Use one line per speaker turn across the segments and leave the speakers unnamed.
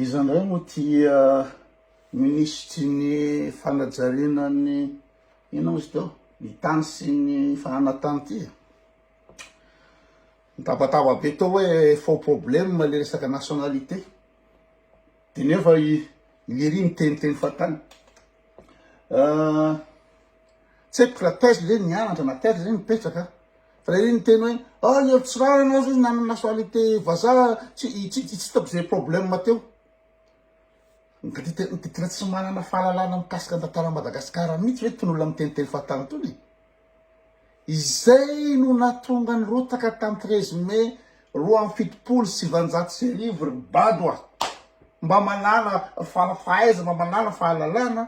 Iza indray moa ity minisitry ny fanajariana ny inona moa izy teo? Ny tany sy ny fananan-tany ity e. Mitabataba be tao hoe faux problème ilay resaka nationalité. Dia nefa i Liri miteniteny fahatany. Tsy haiko raha taiza ve nianatra na taiza ve mipetraka fa ilay hoe niteny hoe ah i Helotsirahana hozy izy nanana nationalité vazaha tsy hitako izay problème teo. Ngaditra ngaditra tsy manana fahalalana mikasika ny tantaran'i Madagasikara mihitsy ve itony olona miteniteny fahatany itony e. Izay no nahatonga ny rotaka tamin'ny treize mai roa amby fitopolo sy sivanjato sy arivo ry bado a! Mba manala fahaiza mba manala fahalalana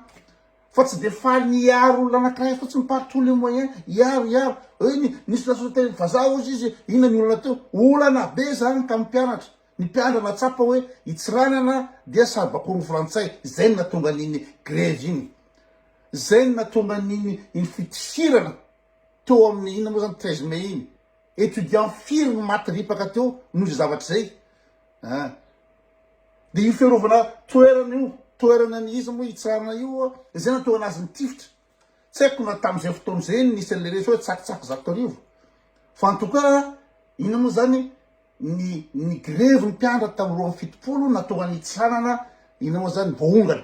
fa tsy dia faly ny hiaro olona anankiray fotsiny par tous les moyens, hiaro hiaro, hoe ny nisy nahazo teny vazaha hozy izy, inona ny olana teo? Olana be izany tamin'ny mpianatra, ny mpiandra nahatsapa hoe i Tsiranana dia saribakoron'ny frantsay, izay no nahatonga an'iny grevy iny. Izay no nahatonga an'iny iny fitifirana teo amin'ny inona moa izany treize mai iny. Étudiants firy no maty ripaka teo noho izay zavatra izay an! Dia io fiarovana toerana io, toerana ny iza moa hitsarana io an! Izay no nahatonga an'azy nitifitra. Tsy haiko na tamin'izay fotoana izay no nisy an'ilay resy hoe tsakitsaky zato arivo. Fa en tout cas, inona moa izany, ny ny grevy ny mpianatra tamin'ny roa amby fitopolo no nahatonga ny hitsarana inona moa izany voaongana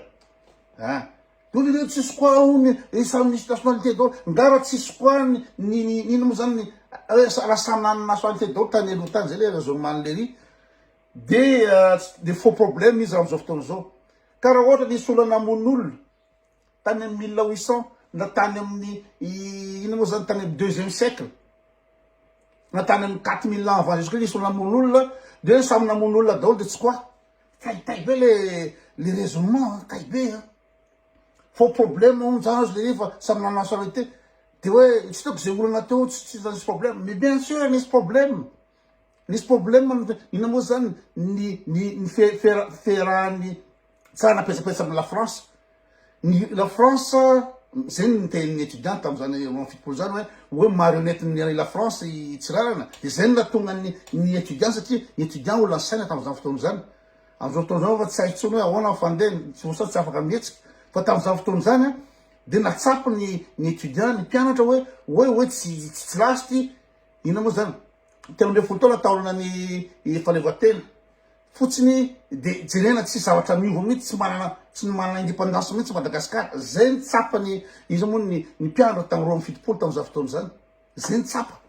an! Vous vivez tsisy quoi hono ry samy misy nationalité daholo, nga raha tsisy quoi ny ny inona moa zany ny raha samy nanana nationalité daholo tany aloha tany zay le raison man le riz de de faux problème izy amzao fotoana zao ka raha ohatra nisy olona namono olona tany am mille huit cent na tany amin'ny inona moa zany tany am deuxième siècle na tany am quatre mille ans avant jesus christ nisy olona namono olona de samy namono olona daholo de tsy quoi Tay tay be le le raisonnement an, tay be an. Faux problème hono zany aza le izy fa samy nanao charité. Dia hoe tsy hitako izay olana teo tsy tsy nisy problème. Mais bien sûr nisy problème. Nisy problème ny inona moa zany ny ny ny fe- fera- fiherahan'ny tsara napetsapetsa amin'i la France. Ny la France, zay ny nitenin'ny étudiant tamin'izany roa amby fitopolo zany hoe hoe marionnette ny an'i la France i Tsiranana, dia zay no nahatonga ny ny étudiant satria ny étudiant ho lasaina tamin'izany fotoana izany. Amin'izao fotoana izao anefa tsy hay intsony hoe ahoana ny fandeha, tsy voasazy tsy afaka mihetsika. Fa tamin'izany fotoana izany an, dia nahatsapa ny ny étudiant, ny mpianatra hoe hoe hoe tsy tsy tsy last, inona moa izany, telo ambin'ny folo taona taolana ny fahaleovantena. fotsiny de jerena tsisy zavatra miova mihitsy tsy manana tsy ny manana indépendance mihitsy Madagascar zay ny tsapa ny iza moa ny ny mpiandra tamy roa amby fitopolo tamy za fotoana zany zay ny tsapa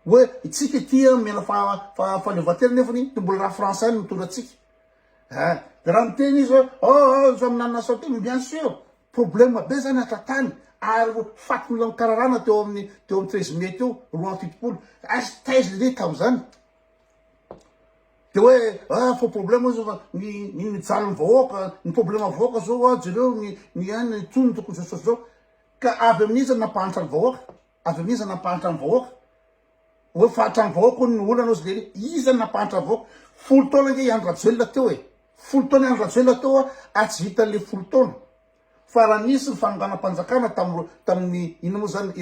hoe itsika ity a mena fa fa fahaleovantena nefany de mbola raha français no mitondra atsika a de raha miteny izy hoe oh samy nanana asao teo bien sûr problème be zany hatratany ary faty mila mikararana teo amin'ny teo amin'ny treize mai teo roa amby fitopolo aiz taiza lehilahy tamy zany Dia hoe ah faux problème izao fa ny ny mijaly ny vahoaka, ny problème vahoaka zao ah jereo ny ny an ny tony tokony zao zao zao. Ka avy amin'iza ny nampahantra ny vahoaka? Avy amin'iza ny nampahantra ny vahoaka? Hoe fahatra ny vahoaka hono ny olana hozy lery. Iza ny nampahantra ny vahoaka? Folo taona ange i Andry Rajoelina teo e. Folo taona i Andry Rajoelina teo a ary tsy vita an'le folo taona. Fa raha nisy ny fanonganam-panjakana tam- tamin'ny inona moa zany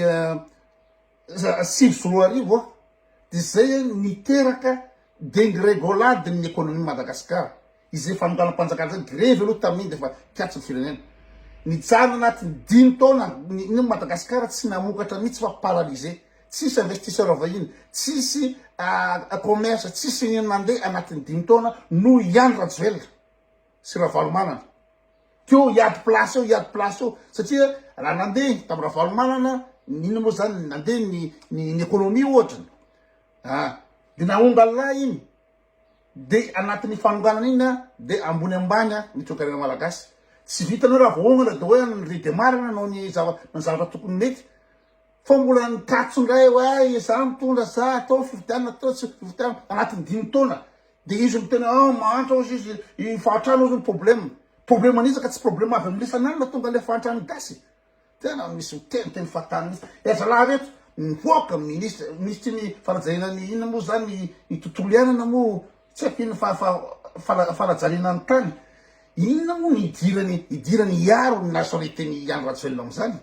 sivy sy roa arivo a, dia izay a niteraka dengregolade ny ekonomian'i Madagasikara, izay fanonganam-panjakana izay grevy aloha tamin'iny dia efa kihatra ny firenena, nijanona anatin'ny dimy taona ny ny Madagasikara tsy namokatra mihitsy fa paralysé, tsisy investisseur vahiny, tsisy commerce, tsisy inona nandeha anatin'ny dimy taona noho i Andry Rajoelina sy Ravalomanana. Teo hiady place eo hiady place eo satria raha nandeha tam Ravalomanana inona moa zany nandeha ny ny économie ohatra a de nahonga la iny de anatin'ny fanonganana iny a de ambony ambany a ny toekarena malagasy tsy vitanao raha voahongana de hoe ny redemarina nanao ny zava ny zavatra tokony mety fa mbola ny tatso indray hoe iza mitondra sa atao fifidianana atao tsy fifidianana anatin'ny dimy taona Dia izy no tena ah mahantra hozy izy iny fahantrana hozy ny problème. Problème an'iza ka tsy problème avy amin'ny isan'alina tonga ilay fahantran'ny gasy. Tena misy miteniteny fahatany mihitsy. Dia zalahy reto mipoaka ministre ministry ny fanajariana ny inona moa izany ny tontolo iainana moa tsy haiko inona fa fa fana fanajariana ny tany. Inona moa ny hidirany hidirany hiaro ny nationalité ny Andry Rajoelina amin'izany?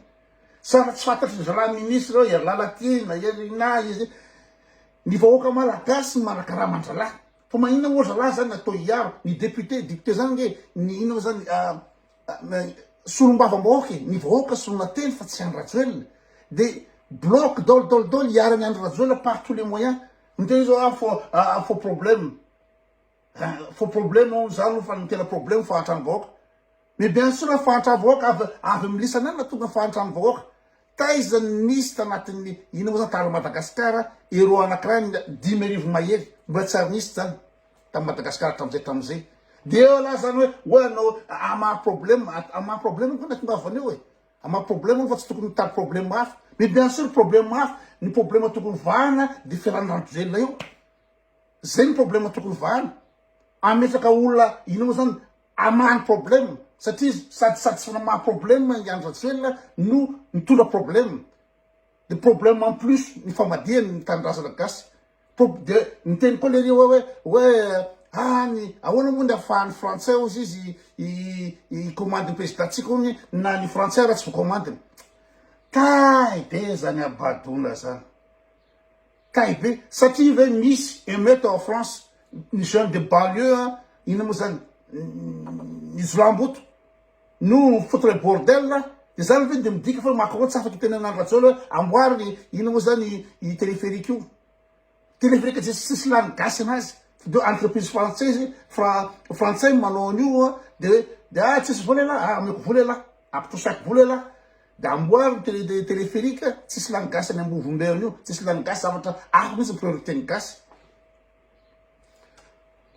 Sa efa tsy fantatry ny zalahy ministre hoe Herilala ty na Hery inona izy. Ny vahoaka malagasy manakarama an-dralahy fa maninona moa zalahy zany atao hiaro ny député, député zany nge ny inona moa zany solombavam-bahoaka e, ny vahoaka solona teny fa tsy Andry Rajoelina de bloc daoly daoly daoly hiaro an'i Andry Rajoelina par tous les moyens, miteny zao ah faux problème. Hein fo problème hono zany hono fa ny tena problème fahantrany vahoaka mais bien sûr fa fahantrany vahoaka avy avy amin'ny lisany any tonga fahantrany vahoaka taiza ny nisy tanatin'ny ina moa zany tara Madagasikara euro anakiray ny dimy arivo mahery mbola tsy ary nisy zany tam Madagasikara hatramizay hatramizay de eo lah zany hoe hoe anao amaha problème amaha problème moa na tongava any eo e amaha problème moa fa tsy tokony mitady problème hafa mais bien sûr problème hafa ny problème tokony vahana de fialan'ny randro velona io Zay ny problema tokony vahana. Ametraka olona inoa zany amany problema satria izy sady sady tsy maha problema i Andry Rajoelina no mitondra problema. De problema en plus ny famadihany ny tanindrazana gasy. De niteny koa lery hoe hoe ah ny ahoana moa ny afahan'ny frantsay ozy izy i commande ny prezidantsika ony na ny frantsay ara tsy voakomandiny. Kay be zany abadona zany. Kay be, satria ve misy emeute ao France, ny jeune de banlieu an, inona moa zany, ny jiolahimboto no foutre le bordel an, de zany ve de midika fa Macron tsy afaka hitenena an-dRajoelina hoe amboary inona moa zany io téléphérique io, téléphérique tsy misy lany gasy anazy, de entreprise frantsaizy, frantsay no manao an'io an, de hoe, de ah tsisy vola elah, ah omeko vola elah, ampitrosako vola elah. Dia amboary ny télé de téléphérique, tsisy lany gasy any Ambovomberona io, tsisy lany gasy zavatra hafa mihitsy ny priorité ny gasy.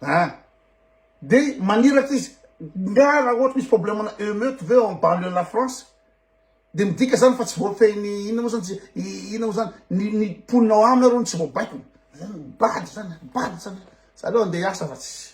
An! Dia maniraka izy, nga raha ohatra misy problème ana emeute ve en banlieue la France dia midika zany fa tsy voafehin'ny inona moa zany tsy inona moa zany ny ny mponina ao aminy arô no tsy voabaikony? Zany bado zany an! Bado zany an! Za aleo andeha hiasa fa tsy.